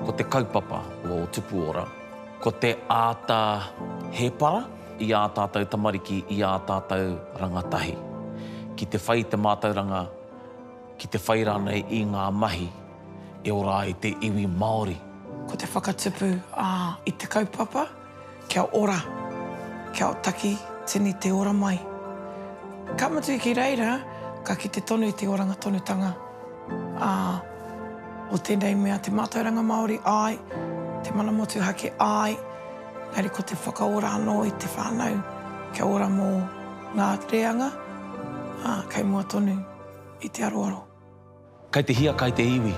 Ko te kaupapa o Tupuora, ko te āta hēpara i ā tātou tamariki, i ā tātou rangatahi, ki te whai i te mātauranga, ki te whai rānei i ngā mahi e ora ai te iwi Māori. Ko te whakatupu i te kaupapa. Kia ora, kia taki tini te ora mai. Ka mutu i ki reira, ka kite tonu i te oranga tonutanga a o tenei mea te matauranga Maori, ae, te mana motuhake, ae, engari ko te whakaora ano i te whanau kia ora mo nga reanga, a, kei mua tonu i te aroaro. Kei te hiakai te iwi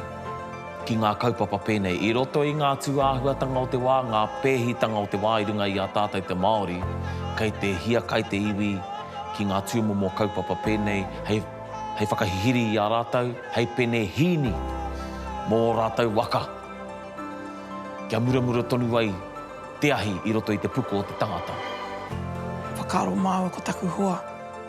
ki ngā kaupapa pēnei. I roto i ngā tūāhuatanga o te wā, ngā pēhitanga o te wā i runga i a tātou te Māori, kei te hiakai te iwi ki ngā tūmomo kaupapa pēnei hei, hei whakahihiri i a rātou, hei pene hīni mō ō rātou waka, kia muramura tonu ai te ahi i roto i te puku o te tangata. Whakaaro māua ko taku hoa.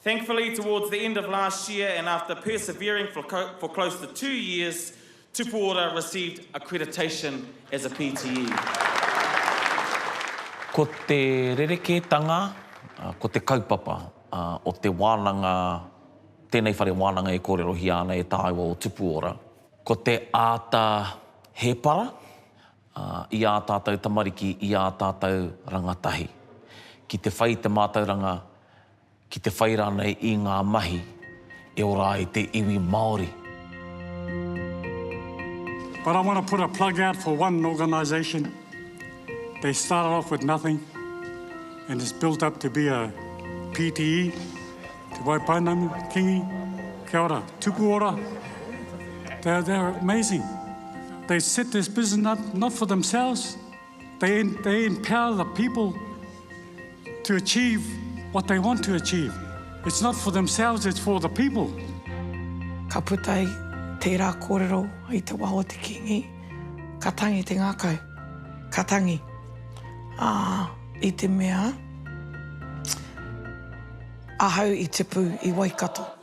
Thankfully towards the end of last year and after persevering for for close to two years, Tupu Ora received accreditation as a PTE. Ko te rerekētanga, ko te kaupapa o te wānanga, tēnei whare wānanga e kōrerohia ana e tāua o Tupu Ora, ko te āta hēpara i ā tātou tamariki, i ā tātou rangatahi, ki te whai te mātauranga ki te whai rānei i ngā mahi e ora ai te iwi Māori. But I want to put a plug out for one organisation they started off with nothing and it's built up to be a PTE, Te Waipounamu, Kingi, kia ora, tuku ora, they're amazing. They set this business up not for themselves, They, they empower the people to achieve what they want to achieve. It's not for themselves, it's for the people. Ka puta ai tērā kōrero i te wā o te Kīngi, ka tangi te ngākau, ka tangi. Ā, i te mea, ahau i tipu i Waikato.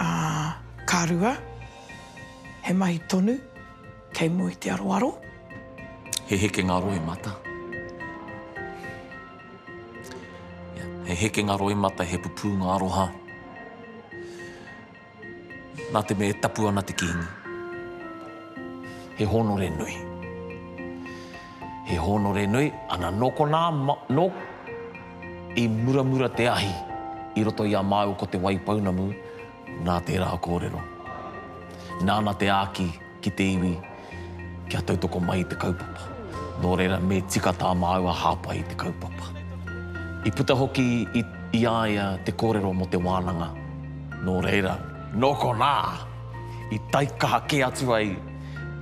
Ā, ka rua, he mahi tonu kei mua i te aroaro. He hekenga roimata. Ia, he hekenga roimata, he pupūnga aroha. Nā te mea e tapu ana te Kīngi, he hōnore nui. He hōnore nui, ana nō konā, nō. I muramura te ahi i roto i a māua ko Te Waipounamu, nā tērā kōrero. Nāna te āki ki te iwi kia tautoko mai i te kaupapa. Nō reira me tika tā māua hāpai i te kaupapa. I puta hoki i i a ia te kōrero mō te wānanga, nō reira. Nō konā, i taikaha kē atu ai.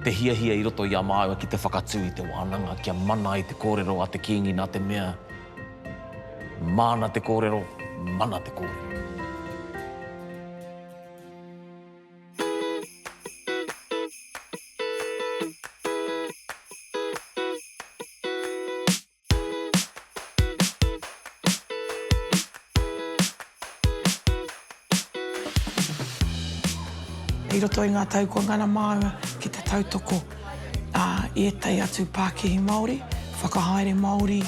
Te hiahia i roto i a māua ki te whakatū i te wānanga kia mana ai te kōrero a te Kīngi nā te mea, māna te kōrero, mana te kōrero. I roto i ngā tau kua ngana māua ki te tautoko i ētahi atu pākihi Māori, whakahaere Māori,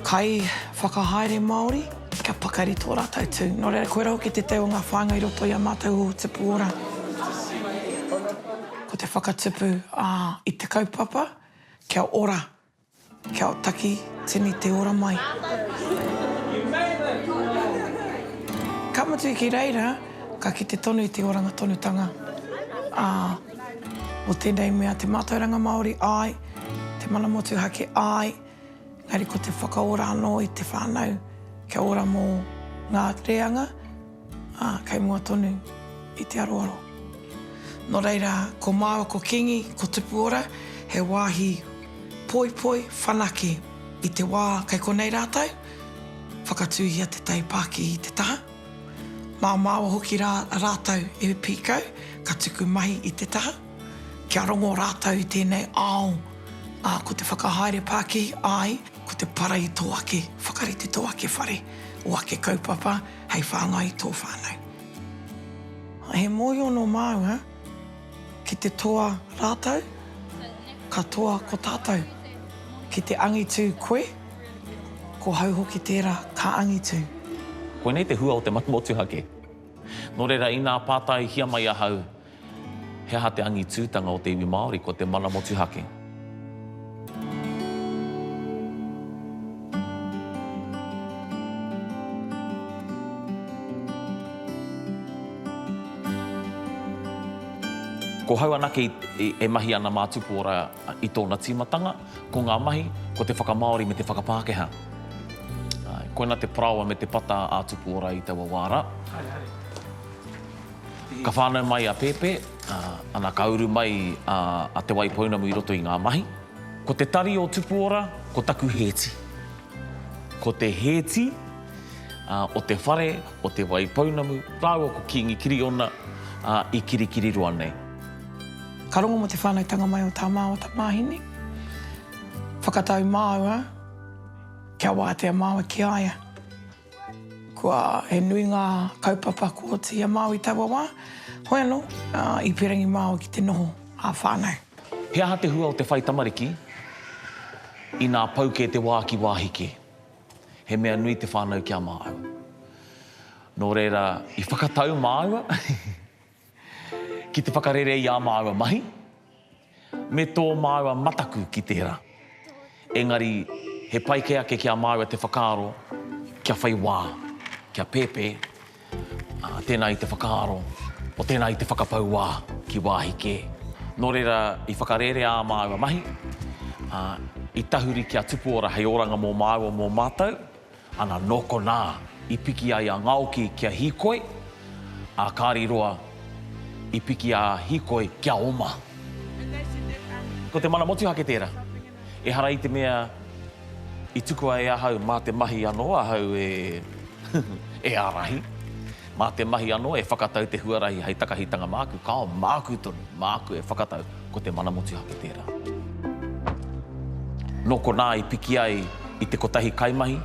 kai whakahaere Māori, kia pakari tō rātou tū. Nō reira, koirā hoki te teo o ngā whāinga i roto i a mātou o Tipu Ora. Ko te whakatupu i te kaupapa, kia ora. Kia otaki tini te ora mai. Ka mutu ki reira, ka kite tonu i te oranga tonutanga o tenei mea te matauranga Maori, ae, te mana motuhake, ae, engari ko te whakaora ano i te whanau kia ora mo nga reanga. Ā, kei mua tonu i te aroaro. Nō reira, ko māua ko Kīngi, ko Tupuora, he wāhi poipoi, whanake, i te wā kei konei rātou, whakatūhia te tai pākihi i te taha. Mā māua hoki rā rātou e pīkau, ka tuku mahi i te taha, kia rongo rātou i tēnei ao, ā, ko te whakahaere pākihi, āe, ko te para i tō ake whakarite, tō ake whare, ō ake kaupapa, hei whāngai i tō whānau. He mōhio nō māua ki te toa rātou, ka toa ko tātou. Ki te angitu koe, ko hau hoki tērā ka angitu. Koinei te hua o te manu motuhake. Nō reira, inā pātaihia mai ahau, He aha te angitūtanga o te iwi Māori? Ko te mana motuhake. Ko hau anake e mahi ana mā Tupuora i tōna tīmatanga, ko ngā mahi, ko te whakamāori me te whakapākehā. Koina te parāoa me te pata a Tupuora i taua wā rā. Ka whānau mai a Pēpē, ana ka uru mai a Te Waipounamu i roto i ngā mahi. Ko te tari o Tupuora, ko taku hēti. Ko te hēti o te whare o Te Waipounamu rāua ko Kīngi Kiriona i Kirikiriroa nei. Ka rongo mō te whānautanga mai o tā māua tamāhine. Whakatau māua kia wātea māua ki a ia. Kua, he nui ngā kaupapa ko te ia Māori taua wā, hoi anō, i pērangi māu ki te noho ā-whānau. He aha te hua o te whai tamariki inā pau kē te wā ki wāhi kē? He mea nui te whānau ki a māu. Nō reira, i whakatau māua. Ki te whakarere i ā māua mahi, me tō māua mataku ki tērā. Engari, he pai kē ake ki a māua te whakaaro kia whai wā, kia pēpē, ā, tēnā i te whakaaro, o tēnā i te whakapau wā ki wāhi kē. Nō reira, i whakarere ā māua mahi, ā, i tahuri kia tupu ora hei oranga mō māua, mō mātou, Ana nō konā i piki ai a Ngaoki ki a Hīkoi, a Kāri Roa i piki a Hīkoi ki a Oma. Ko te mana motuhake tērā. Ehara i te mea i tukua e ahau mā te mahi anō ahau e ārahi. Mā te mahi anō e whakatau te huarahi hei takahitanga māku, kāo māku tonu, māku e whakatau, ko te mana motuhake tērā. Nō konā i piki ai i te kotahi kaimahi,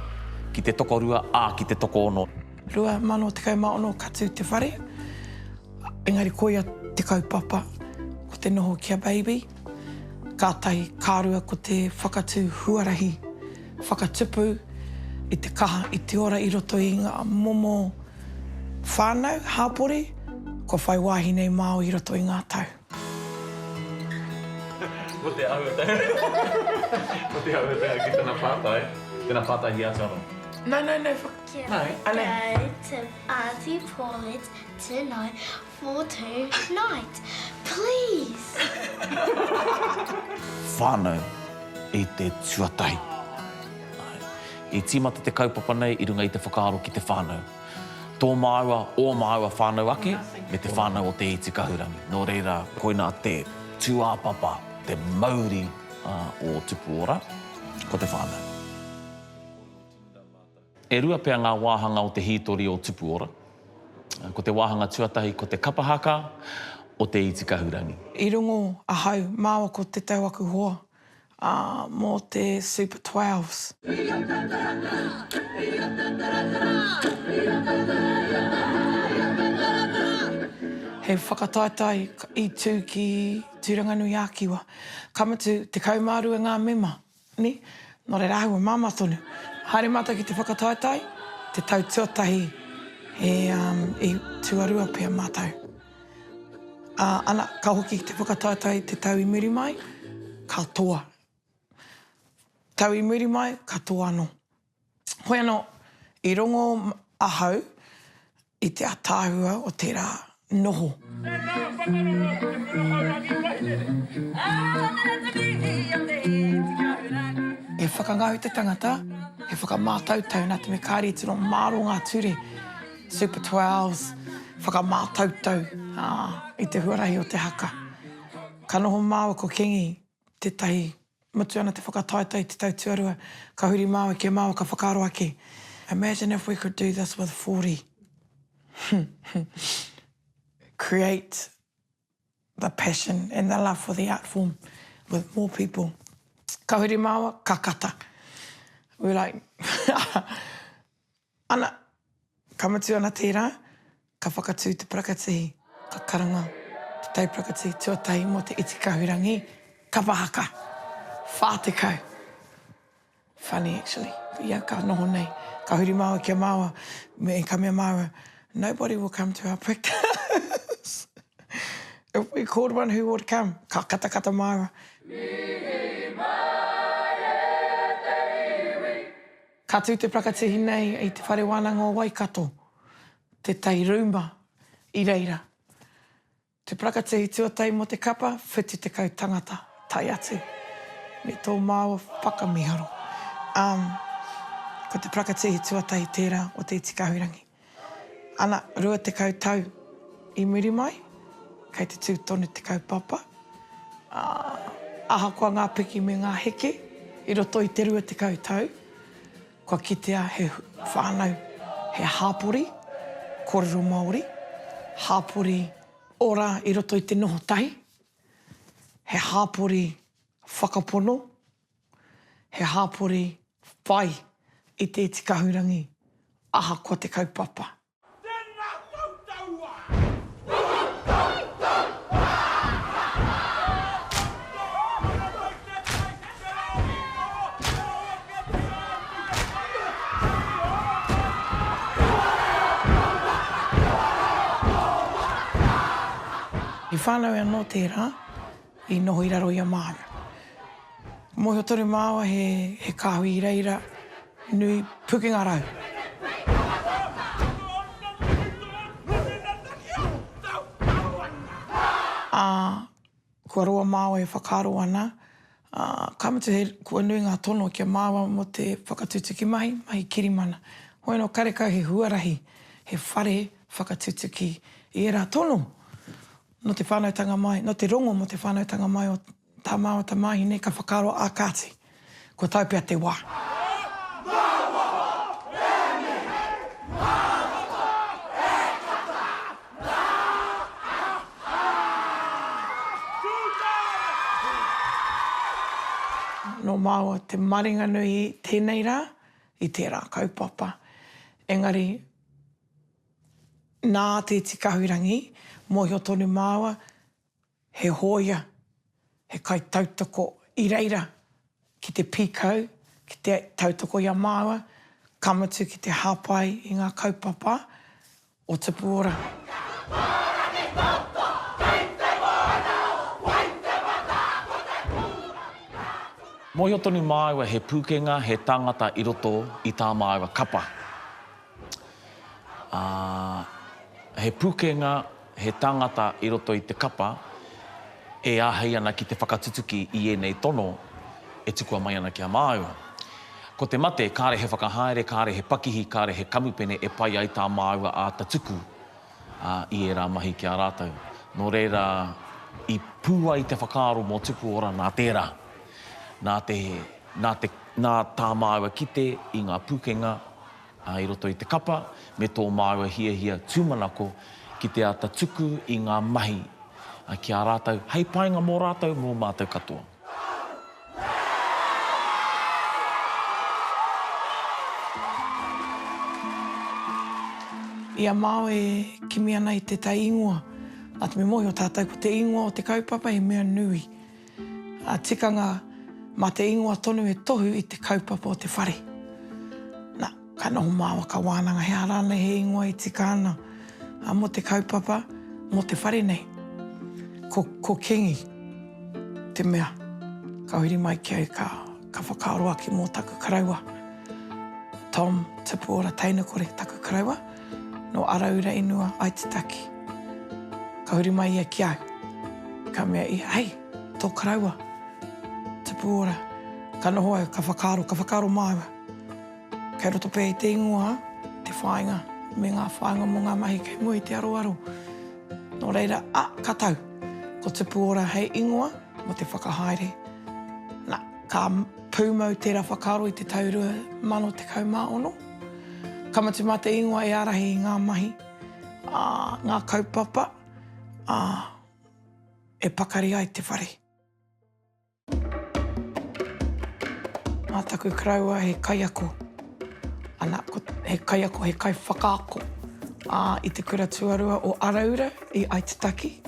ki te tokorua, ā, ki te tokoono. 2016 ka tū te whare, engari koia te kaupapa, ko te noho ki a Baby, kātahi, ka rua ko te whakatū huarahi. Whakatupu i te kaha, i te ora i roto i ngā momo whānau, hāpori, kua whai wāhi nei māu i roto i ngā tau. Ko te ahuatanga ki tana pātai, tēnā pātai hia atu anō. No, no, no, whakatū. Kia ora koutou, Aunty Paulette tēnā. Four to night please. Whānau i te tuatahi. I tīmata te kaupapa nei i runga i te whakaaro ki te whānau. Tō māua, ō māua whānau ake, me te whānau o Te Iti Kahurangi. Nō reira, koinā te tūāpapa, te mauri o Tupuora, ko te whānau. E rua pea ngā wāhanga o te hītori o Tupuora. Ko te wāhanga tuatahi ko te kapa haka o Te Iti Kahurangi. I rongo ahau māua ko te tau aku hoa, ā, mō te Super Twelves. He whakataetae i tū ki Tūranganui-ā-Kiwa. Ka mutu, 12 ngā mema Nē? Nō reira, āhua māmā tonu. Haere mātou ki te whakataetae, te tau tuatahi e, um, i tuarua pea mātou. Ā, ana, ka hoki ki te whakataetae te tau i muri mai, ka toa. Tau i muri mai, ka toa anō. Hoi anō, i rongo ahau i te ataahua o tērā noho. Tēnā whakararo ki te Pūrahaurangi Wairere. E whakangau te tangata, e whakamātautau nā te mea kāre i tino māro ngā ture, Super Twelves, whakamātautau i te huarahi o te haka. Ka noho māua ko Kingi tētahi, mutu ana te whakataetae te tau tuarua, ka huri māua ki a māua ka whakaaro ake, Imagine if we could do this with 40. Create the passion and the love for the art form with more people. Ka huri māua, ka kata. We were like, Ana, ka mutu ana tērā, ka whakatū te parakatihi, ka karanga te tauparakatihi tuatahi mō te iti kahurangi kapa haka. Whā tekau. Funny actually, ko ia ka noho nei, ka huri māua ki a māua, me, ka mea māua, Nobody will come to our practice. If we called one, who would come? Ka katakata māua. Mihi mai e te iwi. Ka tū te prakatihi nei i Te Whare Wānanga o Waikato, Te Tai Rūma, i reira. Te prakatihi tuatahi mō te kapa, Whitu Tekau Tangata, tae atu me tō māua whakamīharo. Āe, ko te prakatihi tuatahi tērā o Te Iti Kahurangi. Ana, rua tekau tau i muri mai, kei te tū tonu te kaupapa, ā, ahakoa ngā piki me ngā heke i roto i te rua tekau tau, kua kitea he whānau, he hapori kōrero Māori, hapori ora i roto i te noho tahi, he hapori whakapono he hāpori whai i te iti kahurangi ahakoa te kaupapa. Tēnā koutou wā! I whānau anō tērā, i noho i raro i a māna. Ka mōhio tonu māua he kāhui i reira nui pukenga rau. Ā, kua roa māua e whakaaro ana, ā, ka mutu he kua nui ngā tono ki a māua mō te whakatutuki mahi, mahi kirimana. Hoi anō karekau he huarahi, he whare whakatutuki i ērā tono. nō te whānautanga mai, nō te rongo mō te whānautanga mai o tā māua tamāhine ka whakaaro ā kāti, kua tae pea te wā. Nō māua te maringa nui i tēnei rā, i tērā kaupapa. Engari. Nā Te Tikahurangi mōhio tonu māua, he hōia, he kaitautoko i reira ki te pīkau, ki te tautoko i a māua, ka mutu ki te hāpai i ngā kaupapa o Tupu Ora. Mōhio tonu māua he pūkenga, he tāngata i roto i tā māua kapa. Ā, he pukenga, he tangata i roto i te kapa e āhei ana ki te whakatutuki i ēnei tono e tukua mai ana ki a māua. Ko te mate, kāre he whakahaere, kāre he pakihi, kāre he kamupene e pai ai tā māua āta tuku i ērā mahi ki a rātou. Nō reira, i pū ai te whakaaro mō Tupuora nā tērā, nā te, nā te, nā tā māua kite i ngā pukenga i roto i te kapa me tō māua hiahia tūmanako ki te āta tuku i ngā mahi ki a rātou hei painga mō rātou, mō mātou katoa. I a māua e kimi ana i tētahi ingoa, āta me mōhio tātou ko te ingoa o te kaupapa he mea nui. Ngā tikanga mā te ingoa tonu e tohu i te kaupapa o te whare. Nā, ka noho māua, ka wānanga he aha rānei he ingoa e tika ana mō te kaupapa, mō te whare nei. Ko, ko Kingi te mea ka huri mai ki au, ka, Ka whakaaro ake mō taku karaua. Tom, tupu ora teinekore taku karaua, nō Araura inua, Aitutaki. Ka huri mai ia ki au. Ka mea ia, hei, tō karaua, tupu ora. Ka noho au, ka whakaaro, ka whakaaro māua. Kei roto pea i te ingoa te whāinga me ngā whāinga mō ngā mahi kei mua i te aroaro. Nō reira, a, ka tau. Ko tupu ora hei ingoa. mō te whakahaere. Na, ka pūmau tērā whakaaro i te tau 2016. Ka mutu mā te ingoa e ārahi i ngā mahi, ā, ngā kaupapa, ā, e pakari ai te whare. Mā taku karaua he kaiako. Ana, he kaiako, he kaiwhakaako i te kura tuarua o Araura i Aitutaki.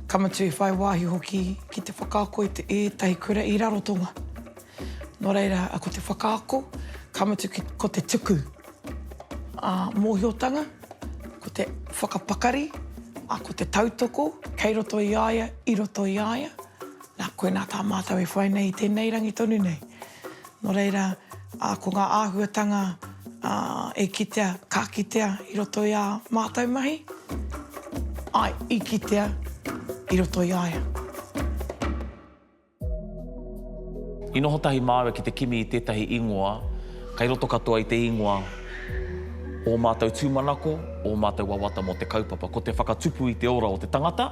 Ka mutu i whai wāhi hoki ki te whakaako i ētahi kura i Rarotonga. Nō reira, ko te whakaako, ka mutu ko te tuku mōhiotanga, ko te whakapakari, ko te tautoko kei roto i a ia, i roto i a ia. Nā koinā tā mātou e whai nei i tēnei rangi tonu nei. Nō reira, ko ngā āhuatanga e kitea, ka kitea i roto i ā mātou mahi, āe, i kitea i roto i a ia. I noho tahi māua ki te kimi i tētahi īngoa, kei roto katoa i te īngoa ō mātou tūmanako, ō mātou wawata mō te kaupapa. Ko te whakatupu i te ora o te tangata.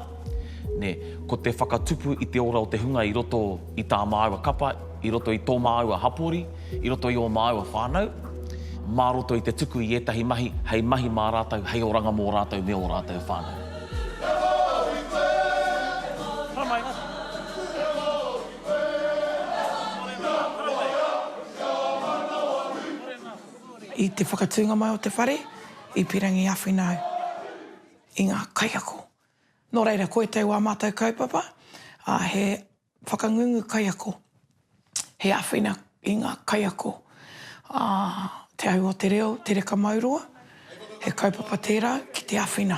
Nē, ko te whakatupu i te ora o te hunga i roto i tā māua kapa, i roto i tō māua hapori, i roto i ō māua whānau, mā roto i te tuku i ētahi mahi hei mahi mā rātou, hei oranga mō rātou me ō rātou whānau. I te whakatūnga mai o te whare, i pīrangi āwhina au i ngā kaiako. Nō reira, ko ētahi o ā mātou kaupapa, ā, he whakangungu kaiako, he āwhina i ngā kaiako, ā, Te Ahu o te Reo, Te Reka Mauroa, he kaupapa tērā ki te āwhina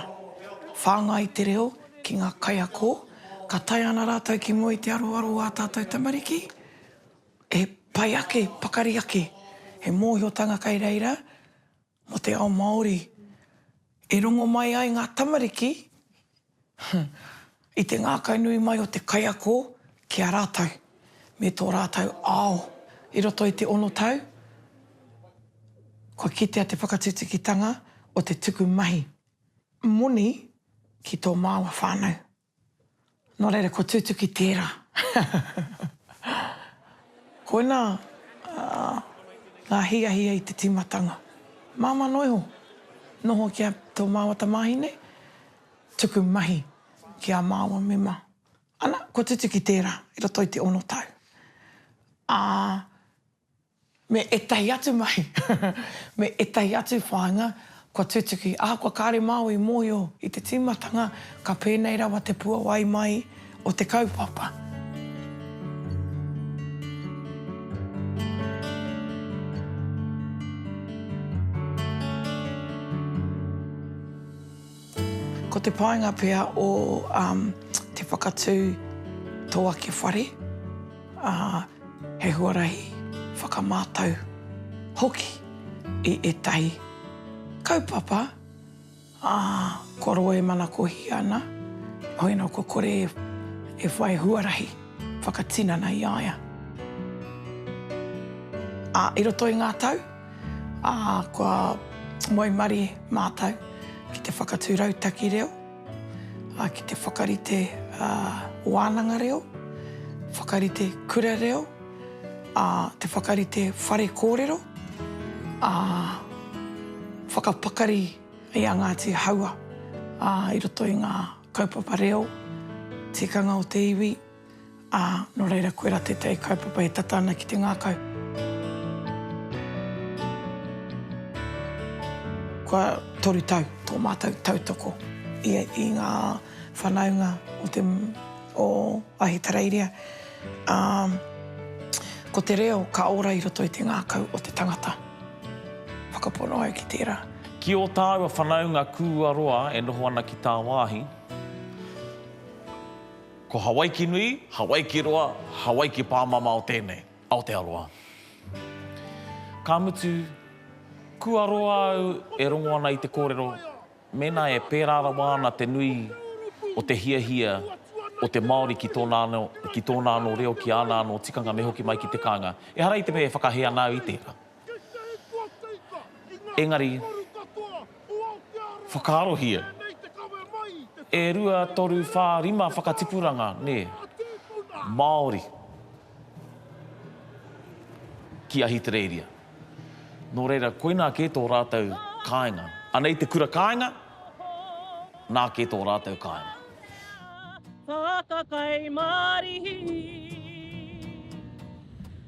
whāngai i te reo ki ngā kaiako. Ka tae ana rātou ki mua i te aroaro o ā tātou tamariki, he pai ake, pakari ake, he mōhiotanga kei reira, Mō te ao Māori e rongo mai ai ngā tamariki i te ngākau nui mai o te kaiako ki a rātou me tō rātou ao. I roto i te ono tau, kua kitea te whakatutukitanga o te tuku mahi moni ki tō māua whānau. Nō reira, ko Tūtuki tērā. Koina ngā hiahia i te tīmatanga. Māmā noa iho, noho ki a tō māua tamāhine, tuku mahi ki ā māua mema. Ana, ko Tūtuki tērā, i roto i te ono tau. Ā, me ētahi atu mahi, me ētahi atu whāinga kua tutuki. Ahakoa kāre māu i mōhio i te tīmatanga, ka pēnei rawa te puawai mai o te kaupapa. Ko te painga pea o te whakatū tō ake whare, he huarahi whakamātau hoki i ētahi kaupapa kua roa e manakohia ana, hoi nō kua kore e whai huarahi whakatinana i a ia. I roto i ngā tau, Ā, kua waimarie mātou ki te whakatū rautaki reo, ā, ki te whakarite wānanga reo, whakarite kura reo, ā, te whakarite whare kōrero, ā, whakapakari i a Ngāti Haua, ā, i roto i ngā kaupapa reo, tikanga o te iwi. Ā, nō reira koirā tētahi kaupapa e tata ana ki te ngākau. Kua toru tau tō mātou tautoko i ngā whānaunga o te, o Ahitereiria, ā, ko te reo ka ora i roto i te ngākau o te tangata. Whakapono au ki tērā. Ki ō tāua whānaunga kūaroa e noho ana ki tāwāhi, Ko Hawaiki nui, Hawaiki roa, Hawaiki pāmama o tēnei, Aotearoa. Ka mutu, kua roa au e rongo ana i te kōrero, mēnā e pērā rawa ana te nui o te hiahia o te Māori ki tōna anō, ki tōna anō reo, ki āna anō tikanga me hoki mai ki te kāinga. Ehara i te mea e whakahē ana au i tērā. Engari, whakaarohia, e rua, toru, whā, rima whakatipuranga, nē, Māori ki Ahitereiria. Nō reira, koinā kē tō rātou kāinga. Anei te kura kāinga, nā kē tō rātou kāinga. Whakakaimārihi.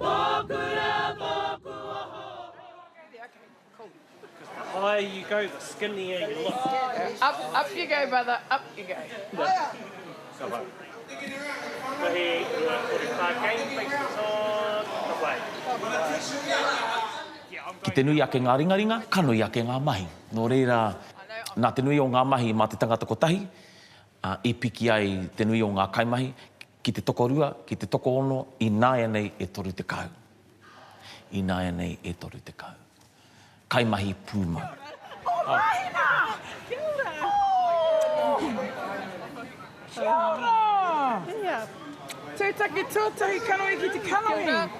Tōku reo, tōku oho. The higher you go, the skinnier you look. Up, up you go, brother, up you go. Ka wai. Ka he ngā kore Tākei, face the sun, ka wai. Ka wai. Ki te nui ake ngā ringaringa, ka nui ake ngā mahi. Nō reira, nā te nui o ngā mahi mā te tangata kotahi i piki ai te nui o ngā kaimahi. Ki te tokorua, ki te tokoono, ināianei e toru tekau. Ināianei e toru tekau. Kaimahi pūmau. Ko Raina! Kia ora! Kia ora! Tūtaki tuatahi kanohi ki te kanohi.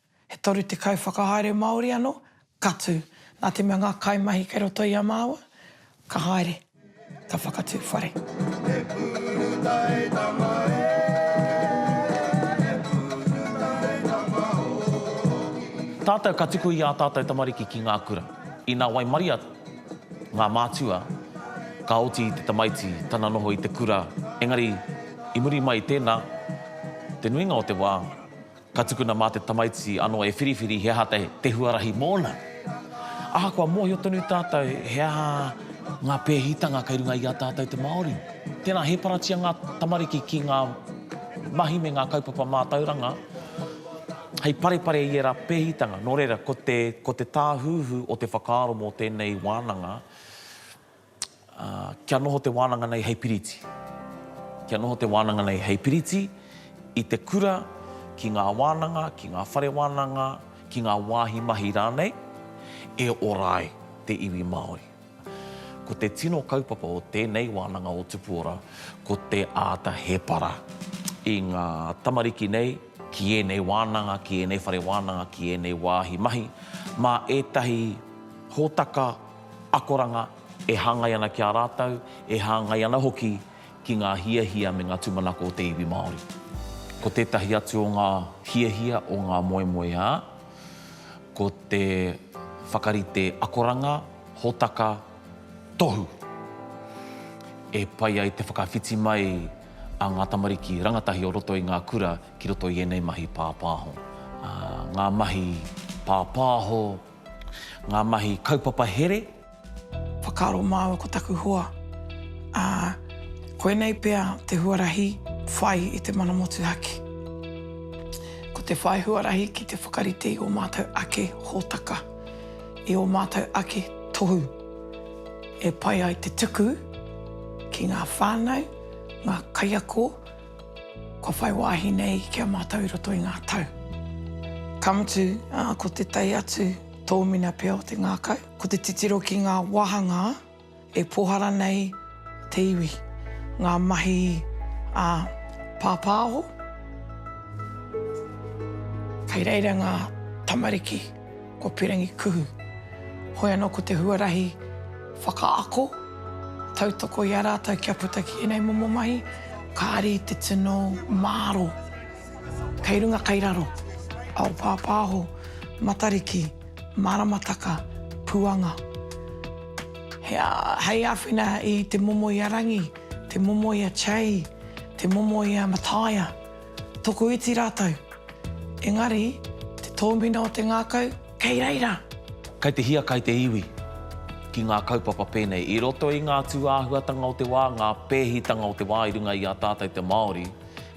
He 30 whakahaere Māori anō ka tū. Nā te mea ngā kaimahi kei roto i a māua, ka haere, ka whakatū whare. He purutaetanga e, he purutaetanga hoki. Tātou ka tuku i ā tātou tamariki ki ngā kura. Inā waimaria ngā mātua, ka oti i te tamaiti tana noho i te kura, engari i muri mai i tēnā, te nuinga o te wā, Ka tukuna mā te tamaiti anō e whiriwhiri he aha te huarahi mōna. Ahakoa mōhio tonu tātou he aha ngā pēhitanga kei runga i a tātou te Māori. Tēnā, hēparatia ngā tamariki ki ngā mahi me ngā kaupapa mātauranga hei parepare i ērā pēhitanga. Nō reira, ko te tāhuhu o te whakaaro mō tēnei wānanga, Ā, kia noho te wānanga nei hei piriti. Kia noho te wānanga nei hei piriti i te kura, ki ngā wānanga, ki ngā whare wānanga, ki ngā wāhi mahi rānei, e ora ai te iwi Māori. Ko te tino kaupapa o tēnei wānanga o Tupu Ora, ko te āta hēpara i ngā tamariki nei ki ēnei wānanga, ki ēnei whare wānanga, ki ēnei wāhi mahi, mā ētahi hōtaka, akoranga e hāngai ana ki a rātou, e hāngai ana hoki ki ngā hiahia me ngā tūmanako o te iwi Māori. Ko tētahi atu o ngā hiahia o ngā moemoeā, ko te whakarite akoranga, hōtaka, tohu, e pai ai te whakawhiti mai a ngā tamariki rangatahi o roto i ngā kura ki roto i ēnei mahi pāpāho. Ngā mahi pāpāho Ngā mahi kaupapa here. Whakaaro māua ko taku hoa, ā, koinei pea te huarahi whai i te mana motuhake. Ko te whai huarahi ki te whakarite i ō mātou ake hōtaka, i ō mātou ake tohu e pai ai te tuku ki ngā whānau, ngā kaiako, Kua whai wāhi nei ki a mātou i roto i ngā tau. Ka mutu, ko te tae atu tōmina pea o te ngākau, ko te titiro ki ngā wāhanga e pōhara nei te iwi, ngā mahi a pāpāho. Kei reira ngā tamariki. Ko Perengi Kuhu. Hoi anō ko te huarahi whakaako, tautoko i a rātou kia puta ki ēnei momo mahi, kāri i te tino māro kei runga kei raro, ao pāpāho, matariki, māramataka, puanga. He hei āwhina i te momo i a Rangi, te momo i a Chei, te momo i a Mataia. Tokoiti rātou. Engari, te tōmina o te ngākau, kei reira! Kei te hia, kei te iwi. Ki ngā kaupapa pēnei, i roto i ngā tūāhuatanga o te wā, ngā pēhitanga o te wā i runga i a tātou te Māori,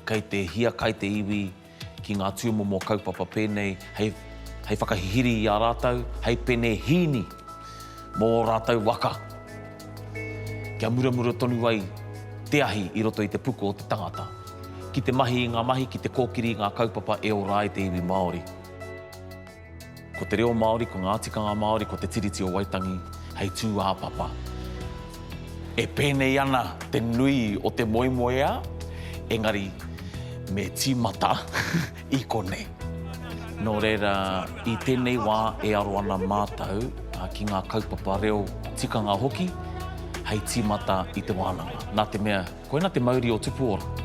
kei te hia, kei te iwi ki ngā tūmomo kaupapa pēnei hei whakahihiri i a rātou, hei penehīni. Mō ō rātou waka, kia muramura tonu ai te ahi i roto i te puku o te tangata, ki te mahi i ngā mahi, ki te kōkiri i ngā kaupapa e ora ai te iwi Māori. Ko te reo Māori, ko ngā tikanga Māori, ko Te Tiriti o Waitangi hei tūāpapa. E pēnei ana te nui o te moemoeā, engari me tīmata. i konei. Nō reira, i tēnei wā e aro ana mātou ki ngā kaupapa reo, tikanga hoki, hei tīmata i te wānanga. Nā te mea, koina te mauri o Tupuora.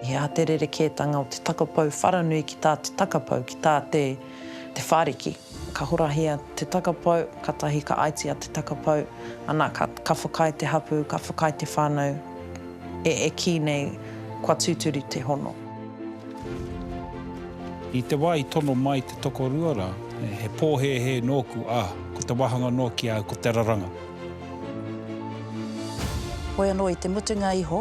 He aha te rerekētanga o te takapau wharanui ki tā te takapau, ki tā te Te Whāriki? Ka horahia te takapau, katahi ka aitia te takapau, ana, ka, ka whakaae te hapū, ka whakaae te whānau e, e kī nei kua tūturu te hono. I te wā i tono mai te tokorua rā, he pōhēhē nōku, ā, ko te wāhanga noa ki a au ko te raranga. Hoi anō i te mutunga iho,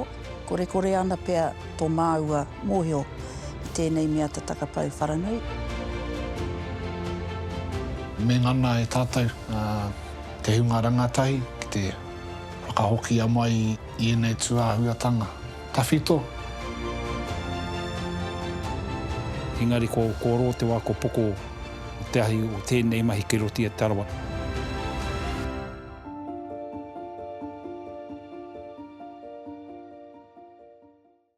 korekore ana pea tō māua mōhio i tēnei mea te takapau wharanui. Me ngana e tātou te hunga rangatahi ki te whakahokia mai i ēnei tūāhuatanga. Tawhito. Engari ko Oro te wā ko Poko te ahi o tēnei mahi kei roto i a Te Arawa.